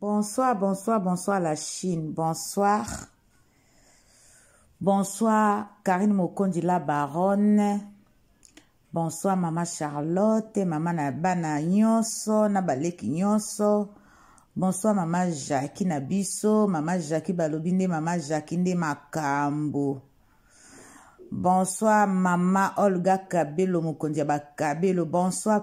Bonsoir, bonsoir, bonsoir la Chine. Bonsoir. Bonsoir Karine Mokondi la baronne. Bonsoir maman Charlotte, maman na bana nyonso na baleki nyonso. Bonsoir maman Jackie na biso, maman Jackie balobi nde maman Jackie nde makambo. Bonsoir maman Olga Kabelo mokonzi ya bakabelo. Bonsoir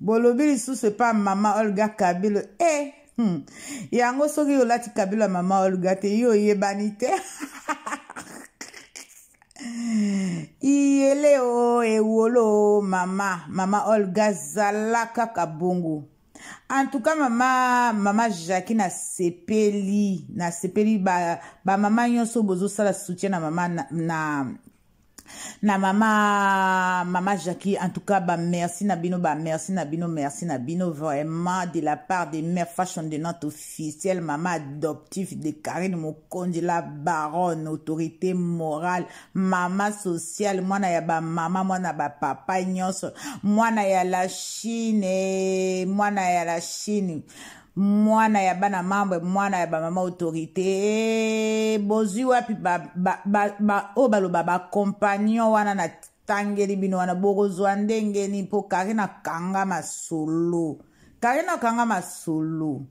bolobi lisusu epa mama olga kabilo e eh, hmm. yango soki olati kabilo ya mama olga te yo oyebani te iyele o ewolo mama mama olga zala kaka bongo en tout cas mama mama jacqui nasepeli nasepeli bamama ba nyonso bozosala soutien na mama na, na na mama mama Jackie en tout cas ba merci na bino ba merci na bino merci na bino vraiment de la part de mère fashion de notre officielle mama adoptif de Karine Mokonzi la baronne autorité morale mama sociale mwana ya ba mama mwana ba papa nyonso mwana ya la Chine mwana ya la Chine mwana ya bana mambre mwana ya bamama autorité eh, bozwi wapi baoyo ba, ba, ba, oh, baloba bacompagnon wana na tangeli bino wana bokozwa ndenge nini mpo kari na kanga masolo kari na kanga masolo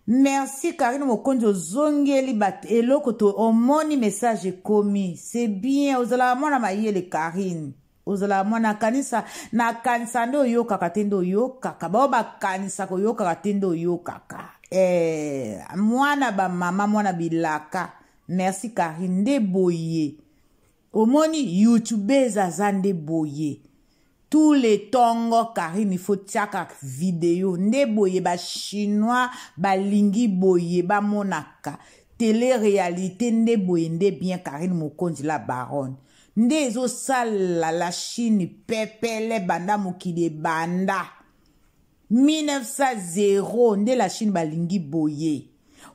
merci karine mokonzi ozongeli bato eloko to omoni message ekomi c'est bien ozalaka mwana mayele karine ozala mwana kanisa na kanisa nde oyokaka te nde oyokaka bao bakanisa koyokaka te nde oyokaka eh, mwana bamama mwana bilaka merci kari nde boye omoni youtubes aza nde boye tous les tongo karine ifo tiaka video nde boye bachinois balingi boye bamonaka tele réalité nde boye nde bien karine mokonzi la baronne nde ezosala la chine pepele banda mokili ebanda 1900 nde la chine balingi boye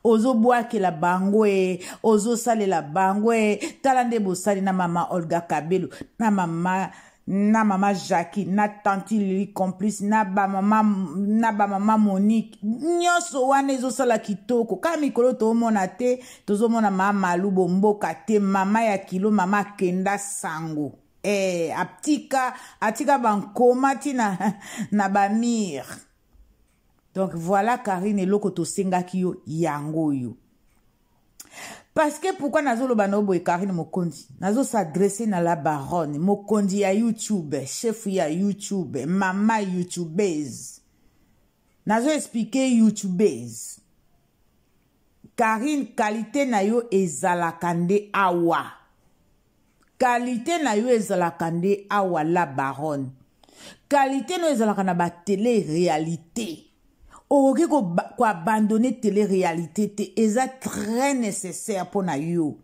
ozobwakela bango e ozosalela bango e tala nde bosali na mama olga kabelo na mama na mama jacqui na tanti lili complice na bamama na bamama monique nyonso wana ezosala kitoko kaka mikolo toomona te tozomona ma malu bomboka te mama ya kilo mama akenda sango eh, atika atika bankoma ti na, na bamire donc voilà karine eloko tosengaki yo yango oyo parce que pourquoi nazoloba na yo boye karine mokonzi nazosadresse na la baronne mokonzi ya youtube chef ya youtube mama youtubese nazoexplike youtubese Carine qualite na yo ezalaka nde awa qualite na yo ezalaka nde awa la baronne qualite na yo ezalaka na ba tele realite okoki koabandonne tele realite te eza très nécessaire mpo na yo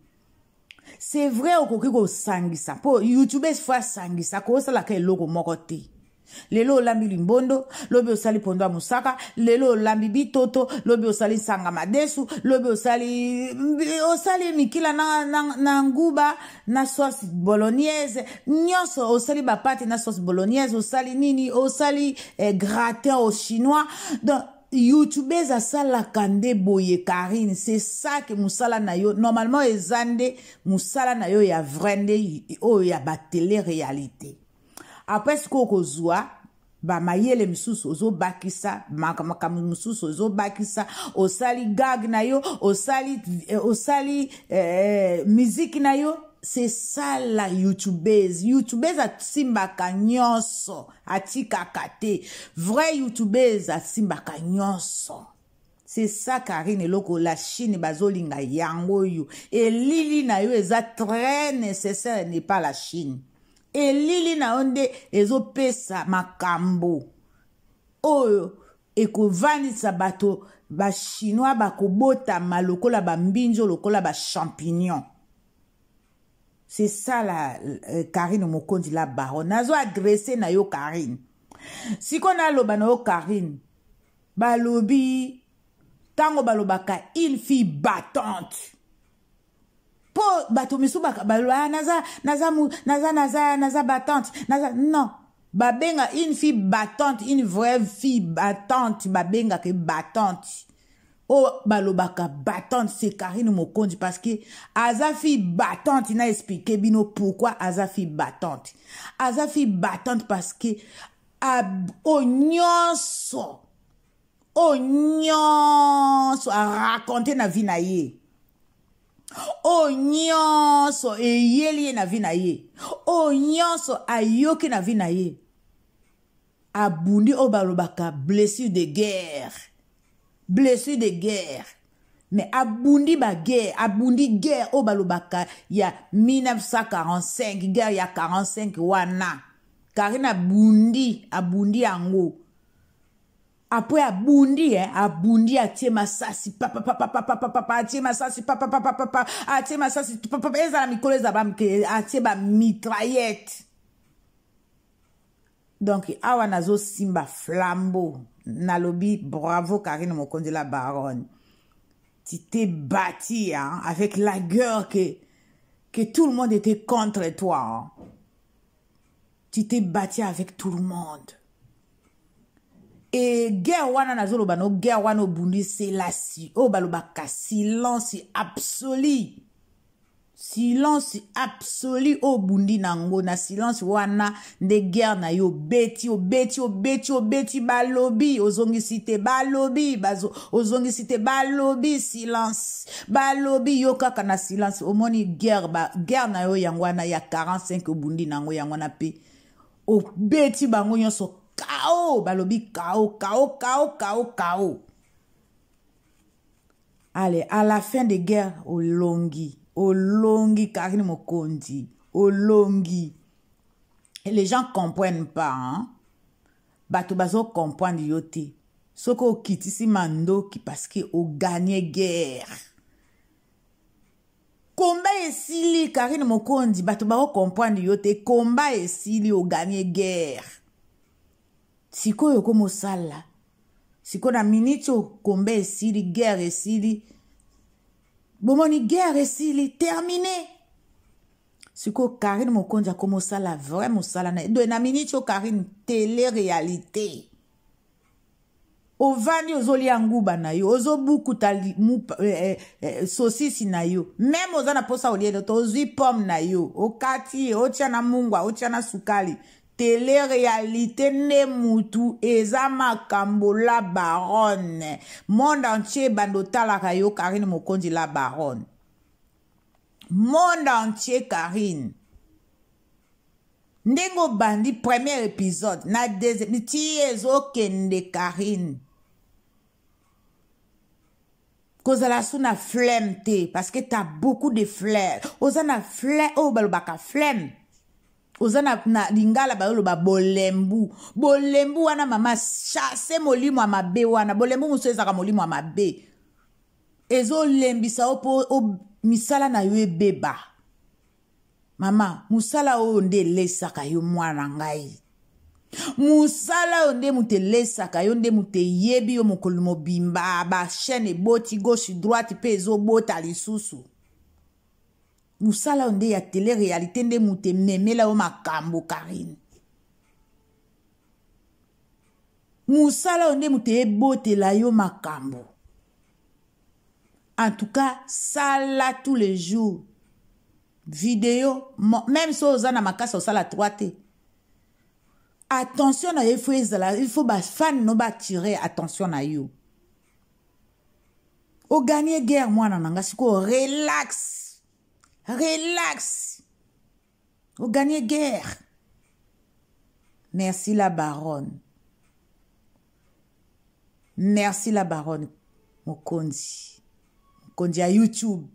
c'est vrai okoki kosangisa mpo youtubes fo asangisa akosalaka eloko moko te lelo olambi limbondo lobi osali pondo ya mosaka lelo olambi bitoto lobi osali nsanga madesu lobi osali osali mikila na, na, na nguba na sauce bolognaise nyonso osali bapate na sauce bolognaise osali nini osali eh, gratin au chinois donc youtubeuse asalaka nde boye karine se sake mosala na yo normalement eza nde mosala na yo ya vrai nde oyo ya batele réalité apres sikoyo kozwa bamayele mosusu ozobakisa makambo mosusu ozobakisa osali gag na yo osali, eh, osali eh, miziki na yo se sala youtubeuse youtubeuse asimbaka nyonso atikaka te vrai youtubeuse asimbaka nyonso c'est ça karine eloko la chine bazolinga yango oyo elili na yo eza très nécessaire n'est pas la chine elili na yo nde ezopesa makambo oyo ekovanisa bato bachinois bakobotama lokola bambinzo lokola bachampignon C'est ça la euh, Karine Mokonzi la baronne. Nazo agressé na yo Karine. Si qu'on a loba na yo Karine. Balobi tango balobaka une fille battante. Po bato misu baloba ah, naza naza naza naza naza battante. Naza non. Babenga une fille battante, une vraie fille battante, babenga que battante. oyo oh, balobaka battante se karine mokonzi parce que aza fille battante na explike bino pourquoi aza fille battante aza fille battante parce que oyo nyonso oyo nyonso araconte na vie na ye oyo nyonso eyeli ye na vie na ye oyo nyonso ayoki na vie na ye abundi oyo balobaka blessure de guerre blessure de guerre mais abundi baguerre abundi guerre oyo balobaka ya 1945 guerre ya 45 wana karine abundi abundi yango apres abundi eh, abundi atie masasi papapapapapapa atie masasi papapapapapa atie masasi ezala mikolo ezala bamike atie bamitraillette donc awa nazosimba flambeau nalobi bravo karine mokonzi la baronne tu t'es bâti hein, avec la gueule que, que tout le monde était contre toi. Hein. Tu t'es bâti avec tout le monde. Et guerre wana nazoloba no guerre wana obundi selasi oyo oh, balobaka silence absolu silence absolu oyo obundi na yango na silence wana nde guerre na yo obeti obeti obeti obeti balobi ozongisi te balobi ozongisi te balobi silence balobi yo kaka na silence omoni guerre ba guerre na yo yango wana ya 45 obundi na yango yango wana mpe obeti bango nyonso kao balobi kao kao kao kao kao ale à la fin de guerre olongi olongi karine mokonzi olongi et les gens comprennent pas hein? bato bazocomprendre yo te soki okitisi mandoki parceke oganye guerre komba esili karine mokonzi bato baocomprendre yo te komba esili oganye guerre sikoyo okomosala siko na miniti oyo kombe esili guerre esili bomoni guerre esili termine sikoyo karine mokonzi akoma osala vrai mosala na ye doye na miniti oyo karine tele réalité ovandi ozolia nguba na yo ozobukuta eh, eh, eh, sosisi na yo meme oza na mposa olie loto ozwi pomme na yo okati ye otya na mungwa otya na sukali Tele-realite nde mutu eza makambo la baronne monde entier ebanda otalaka yo Carine Mokonzi la baronne monde entier Carine ndenge obandi premier épisode na deuxième ti ezokende Carine kozala su na flemme te parce que t'as beaucoup de flemme oza na flemme oyo oh, balobaka flemme oza na, na lingala bayoloba bolembu bolembu wana mama chasse molimo ya mabe wana bolembu mosusu ezalaka molimo ya mabe ezolembisa yo mpo misala na yo ebeba mama mosala oyo nde elesaka yo mwana ngai mosala oyo nde moto elesaka yo nde moto eyebi yo mokolo mobimba bachaine eboti gauche droite mpe ezobota lisusu musala oyo nde ya tele realite nde moto ememela yo makambo karine musala oyo nde moto ebotela yo makambo en tout cas sala tous les jours video même so oza na makasi osala 3 te attention na yo ifo ezala ifo bafane no batire attention na yo o gagne guerre mwana na nga sikoyo relax relax o gagne guerre merci la baronne merci la baronne mokonzi mokonzi ya youtube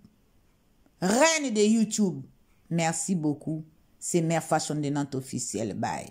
reine de youtube merci beaucoup c'est mère fashion de nante officielle bye